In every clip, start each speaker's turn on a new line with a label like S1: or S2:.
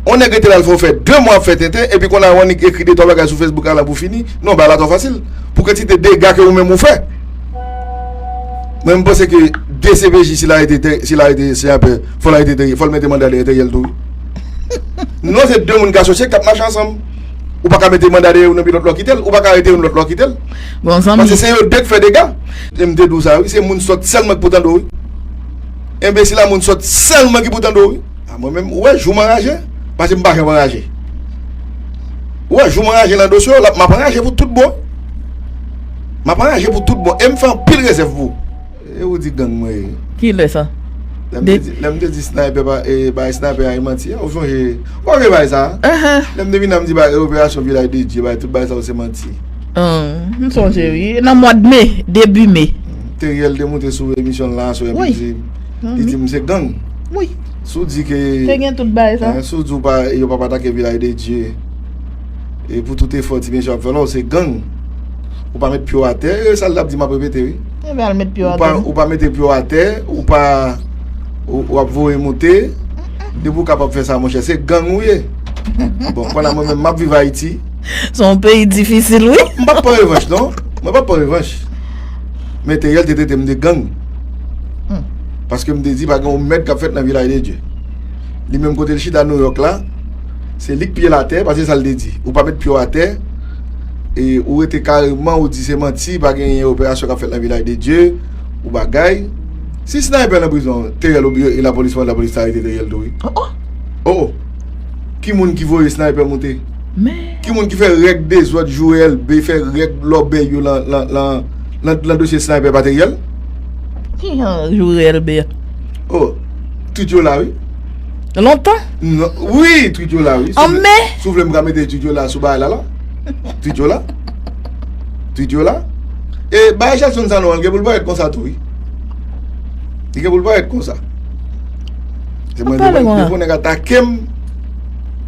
S1: On nèg rete la l fè w fè 2 mwa ap fè tenten epi konn a on nèg ekri 2 3 bagay sou Facebook ala pou fini. Non bagay la twò fasil pou kantite dega ke ou menm ou fè. Mwen m panse ke dcpj si l arete tè si l arete Seapè fò l arete Theriel fò l mete manda dèyè Theriel tou wi. Non se 2 moun k asosye k ap mache ansanm. Ou pa ka mete manda dèyè youn epi lòt la w kite l. Ou pa ka arete youn lòt la w kite l. Paske se
S2: yo 2 k fè dega.
S1: E m te di w sa wi se moun sòt sèlman k pou tande w wi. Enbesil a moun sòt sèlman ki pou tande w wi. A mwen menm ou wè jou m anraje pase m pa janm anraje ou wè jou m anraje nan dosye w la m ap anraje pou tout bon m ap anraje pou tout bon e m fè anpil rezèv pou e ou di gang mwen ye. Ki lè sa?
S2: Lè m
S1: te di snaypè pa e bay snaypè a e manti a ou sonje ou pa bliye bagay sa lè m te vin an m di bagay operasyon vilaj de dye bagay tout bagay sa yo se manti m
S2: sonje wi nan mwa de me debi me Teriel te moute
S1: sou emisyon l nan aswè epi l di. Li di m se gang. Wi. Si
S2: w di ke.
S1: Te gen tout bagay sa.
S2: Si w di yo pa pa
S1: atake Vilaj de Dye. E pou tout efò ti mesye ap fè la w se gang. Ou pa met pye w atè. E sa l t ap di m ap repete wi. E men al met pye w
S2: atè. Ou pa mete pye w
S1: atè. Ou pa. Ou ap voye moute. Depi w kapab fè sa monchè. Se gang ou ye. Bon kounya mwen menm m ap viv Ayiti. Se yon peyi
S2: difisil wi. M pa p pran revanch non.
S1: Mwen pa p pran revanch. Men Theriel te trete m de gang paske m te di pa gen yon mèd k ap fèt nan Vilaj de Dye. Li menm kote l chita Nouyòk la, se li k pye l atè paske se sa l te di, ou pa met pye w atè e ou rete kareman ou di se manti pa gen operasyon k ap fèt nan Vilaj de Dye ou bagay. Si Sniper nan prizon, Theriel ou e lapolis mwen lapolis ta arete Theriel tou wi. O o! Ki moun ki voye Sniper moute? Men. Ki moun ki
S2: fè règ
S1: dezòd jou elbe fè règ lòbèy yo lan dosye sniper materyèl? Ki
S2: jan jou elbe? Oh,
S1: twit yo la wi. Lontan?
S2: Non,
S1: wi, twit yo la wi. An me? Si w vle m ka
S2: mete
S1: twit yo la sou bagay la la. Twit yo la. Twit yo la. E bagay Jackson sa nou an gen pou l parèt konsa tou wi. Li gen pou l parèt konsa. Ou pale mwen. Depi yon nèg atake m.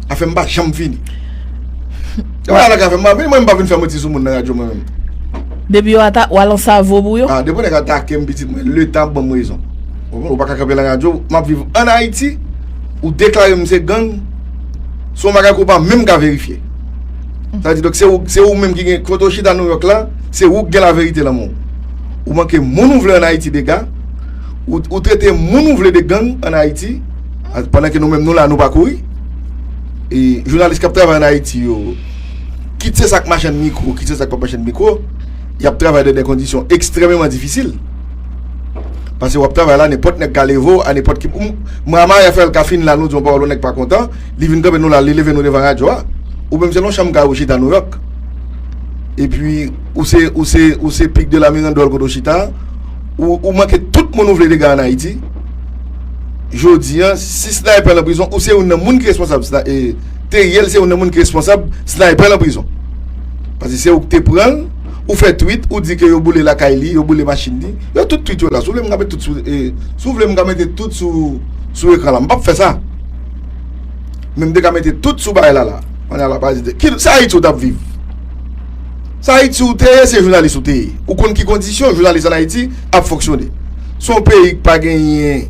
S1: Afè m pa janm fini. Yo wè alak afè m pa fini, mwen m pa vin fè manti sou moun nan radyo mwen menm. Depi yo ata,
S2: w al an savo pou yo? A, depi yon nèg atake m
S1: pitit mwen, le tan ap ban m rezon. Ou pa ka kanpe lan radyo, m ap viv an Ayiti, ou deklare m se gang, se yon bagay ke w pa menm ka verifye. Sa di donk se ou, se ou menm ki gen, kote w chita Nouyòk la, se ou ki gen laverite lan men w. Ou manke moun ou vle an Ayiti dega, ou trete moun ou vle de gang an Ayiti. Pandan ke nou menm nou la nou pa kouri E jounalis kap travay an Ayiti yo Kit se sak machann mikro kit se sak pa machann mikro Yap travay nan de kondisyon ekstrememan difisil Pase wap travay la nenpòt nèg ka leve w a nenpòt ki m Mwa ma ya fèl ka fini la nou di yon pawòl yon nèg pa kontan Li vin kanpe nou la li leve nou devan radyo a Ou menm se nan yon chanm kay ou chita Nouyòk Epi ou se ou se ou se pic de la mirandole kote w chita a Ou manke tout moun ou vle dega an Ayiti. Jodi an, si Sniper lan prizon, ou se youn nan moun ki responsab. Teriel se youn nan moun ki responsab Sniper lan prizon. Pase se ou ki te pran l, ou fè tweet, ou di ke yo boule lakay li, yo boule machin li. Yo tout tweet yo la. Si w vle m ka mete tout sou, si w vle m ka mete tout sou ekran la. M pap fè sa. Men m te ka mete tout sou bagay la la. Sa Ayiti ou tap viv? Se Ayiti ou te ye, se jounalis ou te ye. Ou konn ki kondisyon jounalis an Ayiti ap fonksyone. Se yon peyi ki pa genyen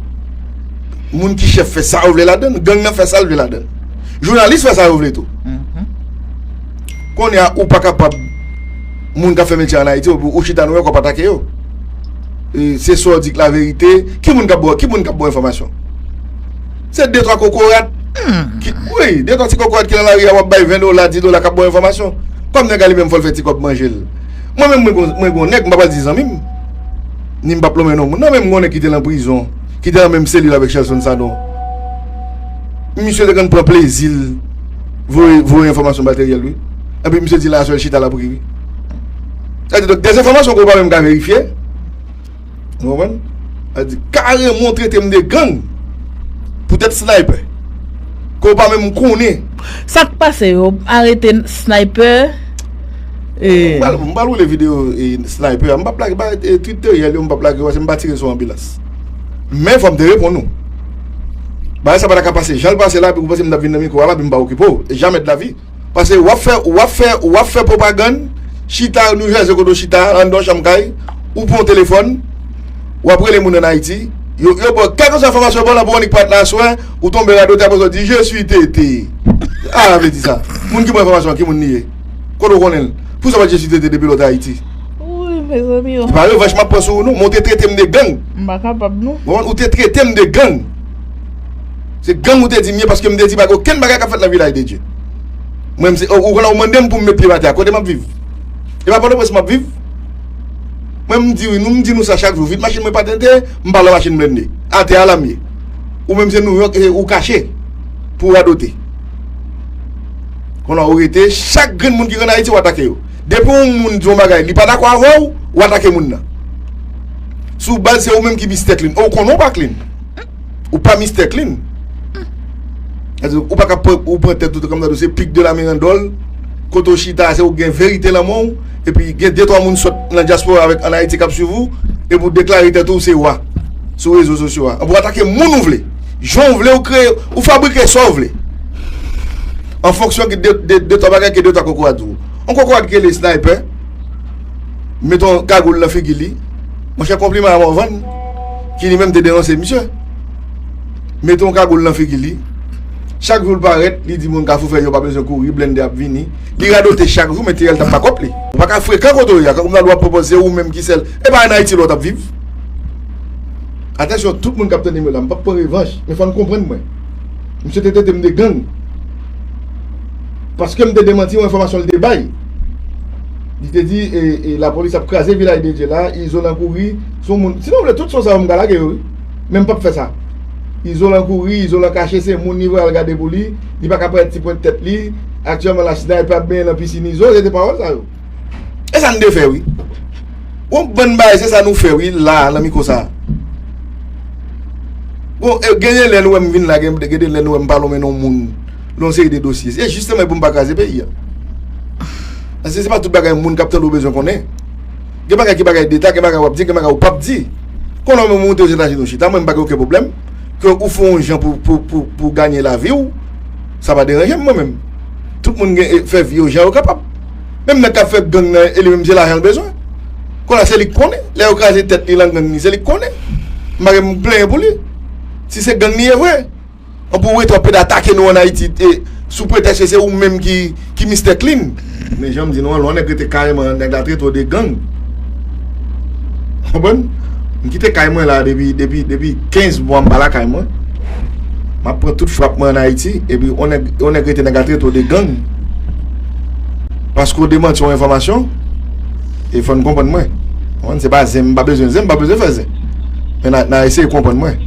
S1: moun ki chèf fè sa yo vle ladan l, gang nan fè sa l vle ladan l. Jounalis fè sa yo vle tou. Kounye a ou pa kapab moun k ap fè metye an Ayiti epi ou chita nan yon kwen w ap atake yo. Se sa w di k laverite, ki moun k ap ba w enfòmasyon? Se de twa kokorat ki wi de twa ti kokorat ki nan lari a wap bay 20 dola 10 dola kap baw enfòmasyon kòm nèg la li menm fòl fè ti kòb manjel mwen menm mwen gon nèg m pa pral di zanmim nim pap lonmen non moun nan men m gon nèg ki te nan prizon ki te nan menm selil avèk Shelson Sanon misye te konn pran plezil voye voye enfòmasyon materyèl wi epi misye di la aswèl chita lap ri wi sa vle di donk dezenfòmasyon ke ou pa menm ka verifye. Ou konprann? Al di karèman ou trete m de gang pou tèt Sniper ke w pa menm konnen. Sa k pase
S2: yo arete Sniper e.
S1: M pral woule video Sniper a. M pap lage bay tweet deryè l yo m pap lage yo paske m pa tire sou anbilans. Men fò m te reponn ou. Bagay sa pa ta ka pase jan l pase la epi ou panse m t ap vin nan mikwo a la epi m pa okipe w. Jamè de la vi. Pase wap fè wap fè wap fè pwopagann chita nou chèche kote w chita anndan yon chanm kay ou pran yon telefòn wap rele moun an Ayiti yo yo baw kèlkeswa enfòmasyon yo baw la pou w annik pati la aswè ou tonbe radote aprè sa w di je sui TT sa vle di sa moun ki baw enfòmasyon an ki moun li ye kote w konnen l pou sa w pa t je sui TT depi lè w te Ayiti
S2: se pa revanch map pran sou ou
S1: non men w te trete m de gang
S2: ou te trete m de
S1: gang. Se gang ou te di m ye paske m te di pa gen okenn bagay k ap fèt nan Vilaj de Dye. Mwen m se ou konnen ou mande m pou m met pyem atè a kote m ap viv? E pa Pòtoprens m ap viv? Mwen m di wi nou m di nou sa chak jou vit machin mwen patente m pa lwen machin blende atè a la m ye ou menm se Nouyòk e ou kache pou w radote. Konnen ou rete chak grenn moun ki konn Ayiti w atake yo. Depi yon moun di yon bagay li pa dakò avè w ou atake moun nan sou baz se ou menm ki bis tèt li ou konnen ou pa klin. Ou pa Mister Clean. Ou pa ka ou pran tèt ou te kòmdadou se pik de la mirandòl. Kote ou chita se ou gen verite lan men ou. E pi gen de twa moun sòt nan dyaspora avèk an Ayiti kap swiv ou. E pou deklare tèt ou se wa sou rezo sosyo a. An pou atake moun ou vle. Jan ou vle ou kreye ou fabrike sa ou vle. An fonksyon ki de twa bagay ke de twa kokorat di ou. On kokorat ki rele Sniper. Met on kagoul nan figi li. Monchè konpliman a Morvan ki li menm te denonse misye. Mete yon kagoul nan figi li. Chak jou l parèt li di moun kafou fè yo pa bezwen kouri blende ap vini. Li radote chak jou men Tirèl tap pa kòt li. Ou pa ka frekan kote w ye a kòm nan lwa ap pwopòz se ou menm ki sèl e pa an Ayiti lòt ap viv. Atansyon tout moun kap tande m yo la m pap pran revanj men fò n konprann mwen. Misye te trete m de gang paske m te demanti yon enfòmasyon l te bay. Li te di e la police ap kraze vilaj de Dye la, Izolan kouri sou moun, si nou vle tout son sa yo m ka lage yo wi, men m pap fè sa. Izolan kouri, Izolan kache se moun li voye al gade pou li, li pa ka parèt ti pwent tèt li, aktyèlman la Sniper ap benyen nan pisinn Izo, se te pawòl sa yo. E sa n te fè wi. Yon bann bagay se sa nou fè wi la a nan mikwo sa a. Bon e genyen lè nou wè m vin la, gen de lè nou wè m pa lonmen non moun. Yon seri de dosye. Se jisteman e pou m pa kraze peyi a. Paske se pa tout bagay moun k ap tande w bezwen konnen. Gen bagay ki bagay deta, gen bagay w ap di, gen bagay ou p ap di. Kon lè w menm ou monte Ozetazini ou chita, mwen m pa gen oken pwoblèm ke ou fè yon jan pou w ganye lavi w. Sa pa deranje m mwen menm. Tout moun gen fè vi yo jan yo kapab. Menm nèg k ap fè gang nan e li menm se lajan l bezwen. Kon a se li k konnen. Lè yo kraze tèt li lan gang li se li k konnen. M pa gen m plenyen pou li. Si se gang li ye vre. An pou wete w pede atake nou an Ayiti sou pretèks ke se ou menm ki Mistè Klin. Men jan m di nou an, lè yon nèg rete kay mwen, nèg la trete w de gang. Ou konprann? M kite kay mwen la depi 15 mwa m pa lakay mwen. M ap pran tout frap mwen an Ayiti. Epi yon nèg rete nèg la trete w de gang. Paske w demanti yon enfòmasyon. E fò n konprann mwen. Ou konprann? Se pa zen, m pa bezwen zen, m pa bezwen fè zen. Men nan eseye konprann mwen.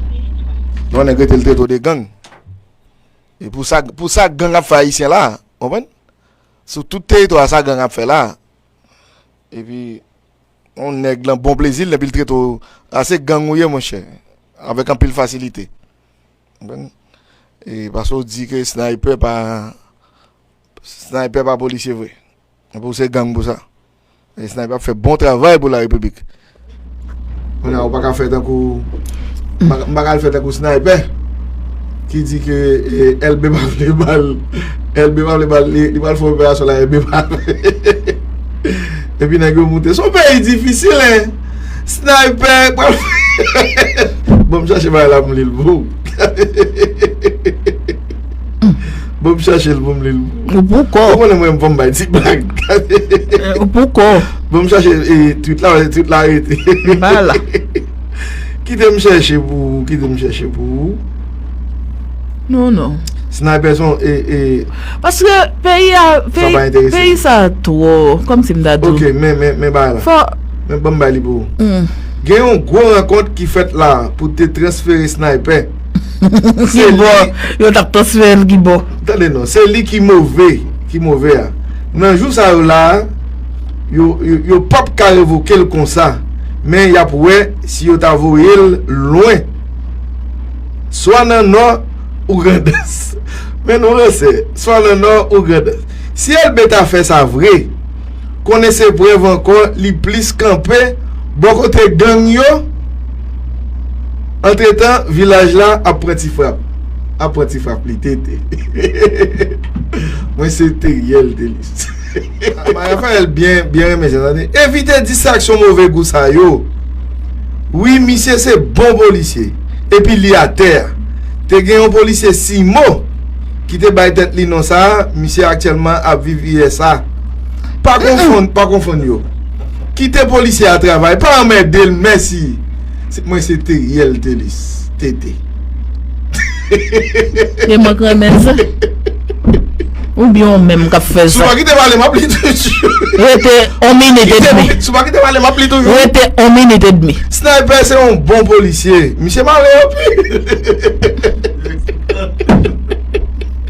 S1: Non nèg rete li trete w de gang. E pou sa pou sa gang ap fè ayisyen la a, ou konprann? Sou tout teritwa a sa gang ap fè la a. E pi yon nèg lan bon plezi l depi l trete w a se gang ou ye monchè avèk anpil fasilite. Ou konprann? E paske w di ke snaypè pa snaypè pa polisye vre. Epi ou se gang pou sa. Nèg sniper ap fè bon travay pou la repiblik. Kounye a ou paka fè tankou m paka al fè tankou sniper ki di ke elbe pa vle bal elbe pa vle bal li pral fè operasyon la elbe pa vle epi nèg yo moute son peyi difisil hein sniper pral fè bon m chache bagay la pou m li l pou ou. Bon m chache l pou m li l. Ou pou kò. Ou konnen mwen m fò m bay ti blag. Ou pou
S2: kò. Bon m chache
S1: twit la, twit la rete. Li pa la. Kite m chache pou ou, kite m chache pou ou.
S2: Non, non. Snaypè son
S1: e, e. Paske
S2: peyi a, peyi. Sa pa enterese. Peyi sa twò, kòm si m ta di. Ok, men, men, men bagay
S1: la. Fò. Men ban m bay li pou ou. Gen yon gwo rankont ki fèt la pou te transfere snaypè. Ki
S2: bo yo tap transfere l ki bo. Tande non, se li ki
S1: move, ki move a. Nan jou sa yo la, yo pap ka revoke l konsa. Men y ap wè si yo ta voye l lwen. Swa nan Nò ou Grandans. Men nou ranse. Swa nan Nò ou Grandans. Si Elbe ta fè sa vre. konnen se prèv ankò li plis kanpe bò kote gang yo antretan vilaj la ap pran ti frap ap pran ti frap li tete hehehehe mwen se teriel delis hehehehe Raphaël byen renmen sa tande evite distraksyon move gou sa yo wi misye se bon polisye epi li atè te gen yon polisye Simo ki te bay tèt li non sa misye aktyèlman ap viv usa. Pa konfonn, pa konfonn yo. Kite polisye a travay, pa anmède l mèsi. Mwen se Theriel Thelus, TT.
S2: Se mwen k renmen sa. Oubyen ou menm k ap fè sa. Si w pa kite pale m ap li
S1: toujou. Rete yon
S2: minit edmi. Si w pa kite pale m ap li
S1: toujou. Rete yon minit edmi.
S2: Sniper se yon bon
S1: polisye. Misye mare anpil.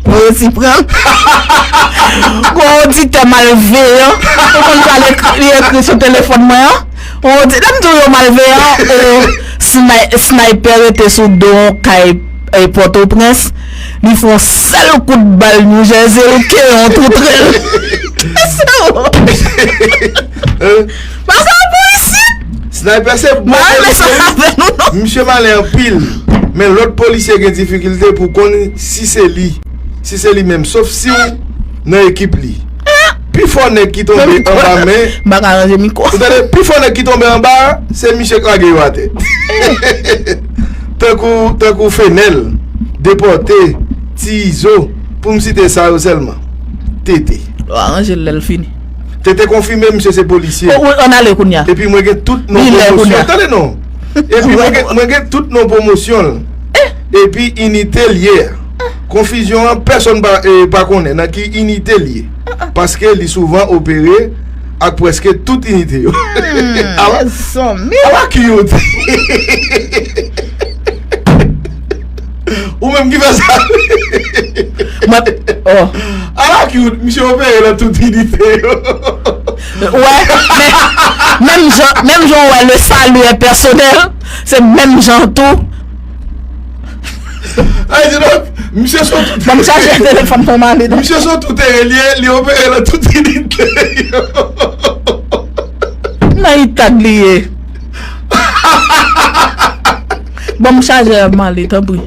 S2: Mwen resi pran. Gon oditè malveyan ou konn sa li ekri sou telefòn mwen an. Lè m di w yo malveyan oo Snaypè rete sou do yon kay Pòtoprens li fon sèl kout bal New Jersey li kenyen yon tou trèl. Kisa w. Pase l pou isit! Sniper se
S1: bon polisye wi. Misye malen anpil. Men lòt polisye gen difikilte pou konn si se li. Si se li menm. Sof si ou nan ekip li. Pi fò nèg ki tonbe anba men. M pa ka ranje mikwo. Ou
S2: tande? Pi fò nèg ki tonbe
S1: anba a, se misye k lage yo atè. Tankou, tankou Fenel, Deporte, Ti Izo, pou m site sa yo sèlman. TT. Yo aranje l lè l
S2: fini. Tete konfime
S1: misye se polisye. O wi, an n ale kounye a.
S2: Epi mwen gen tout non
S1: pwomosyon l. Tande non. Epi mwen gen tout non pwomosyon l. Epi inite l ye a. Konfizyon an pèsonn pa konnen nan ki inite l ye. Paske li souvan opere ak pwèske tout inite yo.
S2: Ala
S1: cute. Ou menm ki fè sa. A la cute, misye opere nan tout inite yo.
S2: Wè, men, menm jan ou wè le salut est personnel, se menm jan tou.
S1: Ay di nou, misye sou tout. Banm chaje telefon
S2: pou man li. Misye sou tout e
S1: li, li opere nan tout inite yo.
S2: Nan itag li ye. Banm chajè a male tanpri.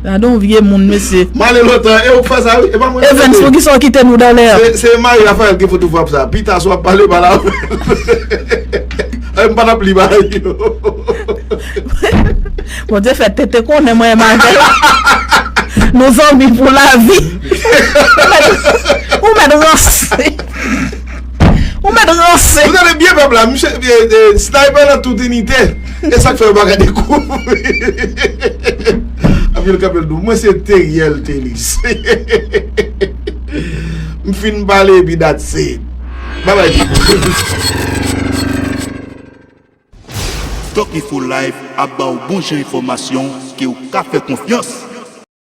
S2: Gade yon vye moun mesye. Male lontan e ou k
S1: fè sa wi. Evens poukisa ou kite nou
S2: dan lè an. Se mari Raphael ki
S1: fout ou frap sa. Pita si wap pale pale avèl. M pa tap li bagay yo.
S2: Bondye fè tete konnen mwen menm avèl nou zanmi pou lavi. Ou mèt ranse. Ou met
S1: ranse. Ou tande byen pèp la. Misye sniper nan tout inite. E sak fè yo paka dekouvri. Apye l kanpe l dou. Mwen se Teriel Thelus. M fin pale epi dat se. Bye bye people.
S3: Tòkifolive ap ba w bon jan enfòmasyon ke w ka fè konfyans.